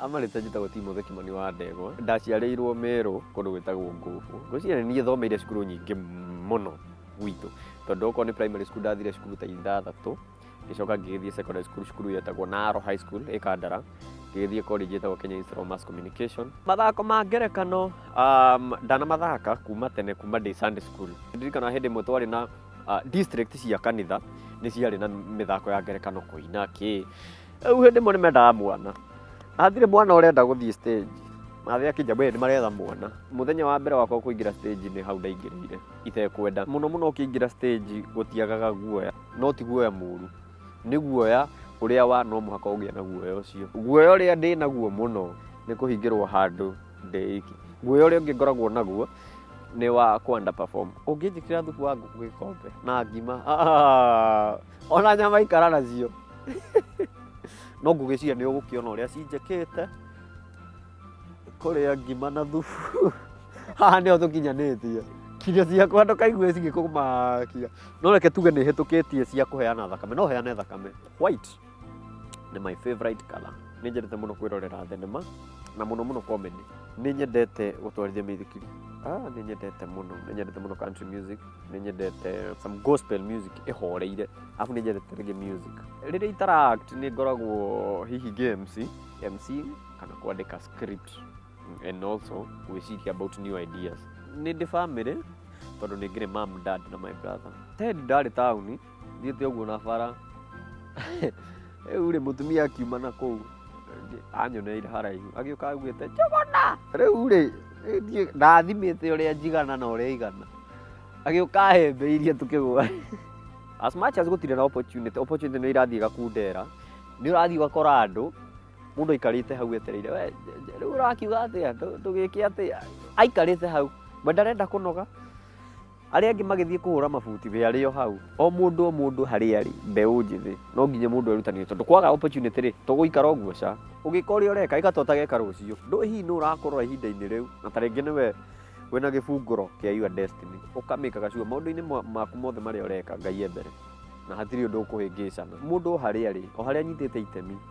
Amarĩte njĩtagwo Timothy Kimani wa Ndegwa. Ndaciarĩirwo Merũ kũndũ gwĩtagwo Ngũbũ. Ngwĩciria nĩ niĩ thomeire cukuru nyingĩ mũno gwitũ. Tondũ okorwo nĩ primary school ndathire cukuru ta ithathatũ, ngĩcoka ngĩgĩthiĩ secondary school cukuru yetagwo Naro High School ĩ Kandara, ngĩgĩthiĩ college yetagwo Kenya Institute of Mass Communication. Mathako ma ngerekano ndanamathaaka kuma tene kuma ndĩ Sunday school. Ndirikanaga hĩndĩ ĩmwe twarĩ na... ah, district cia kanitha nĩ ciarĩ na mĩthako ya ngerekano kũina kĩ rĩu hĩndĩ ĩmwe nĩ mendaga mwana hatirĩ mwana ũrenda gũthiĩ stage mathe akĩnja we nĩ maretha mwana mũthenya wa mbere wakwa kũingĩra stage nĩ hau ndaingĩrĩire itekwenda mũno mũno ũkĩingĩra stage gũtiagaga guoya no ti guoya mũru nĩ guoya ũrĩa wa no mũhaka ũgĩa na guoya ũcio guoya ũrĩa ndĩ naguo mũno nĩ kũhingĩrwo handũ ndĩ iki guoya ũrĩa ũngĩ ngoragwo naguo nĩ wa kũ underperform ũngĩnjĩkĩra thubu wa ngũkũ gĩkombe na ngima ah, ona nyama ikara nacio no ngũgĩciria nĩ ũgũkĩona ũrĩa cinjĩkĩte kũrĩa ngima na thubu haha nĩho tũkinyanĩtie kinya ciakwa ndũkaigue cigĩkũmakia no reke tuge nĩ hĩtũkĩtie cia kũheana thakame no heane thakame white nĩ my favorite color nĩ njendete mũno kwĩrorera thenema na mũno mũno comedy nĩ nyendete gũtwarithia mĩithikiri ah, nĩ nyendete mũno nĩ nyendete mũno country music nĩ nyendete some gospel music ĩhoreire afu nĩ nyendete reggae music rĩrĩa itaract nĩ ngoragwo hihi ngĩ MC MC kana kwandĩka script and also gwĩciria about new ideas nĩ ndĩ family tondũ nĩ ngĩrĩ mam dad na my brother ted ndarĩ taũni thiĩte ũguo na bara rĩu rĩ mũtumia akiuma na kũu anyoneire haraihu agĩũka augĩte njũgũna rĩu rĩ niĩ ndathimĩte ũrĩa njigana na ũrĩa igana agĩũka ahembeirie tũkĩgwa as much as gũtirĩ na opportunity opportunity nĩ irathiĩ gakundera nĩ ũrathiĩ ũgakora andũ mũndũ aikarĩte hau etereire we je- je- rĩu ũrakiuga atĩa Tũ- tũgĩke atĩa aikarĩte hau we ndarenda kũnoga Arĩa angĩ magĩthiĩ kũhũra mabuti we arĩ o hau. O mũndũ o mũndũ harĩa arĩ, mbeũ njĩthĩ, no nginya mũndũ erutanĩrie tondũ kwaga opportunity rĩ, tũgũikara ũguo ca. Ũgĩka ũrĩa ũreka, ĩka ta ũtageka rũciũ. Ndũĩ hihi nũ ũrakũrora ihinda-inĩ rĩu, na ta rĩngĩ nĩwe wĩna gĩbungũro kĩa your destiny. Ũka make aga sure maũndũ-inĩ maku mothe marĩa ũreka, Ngai e mbere, na hatirĩ ũndũ ũkũhĩngĩcana. Mũndũ o harĩa arĩ, o harĩa anyitĩte itemi.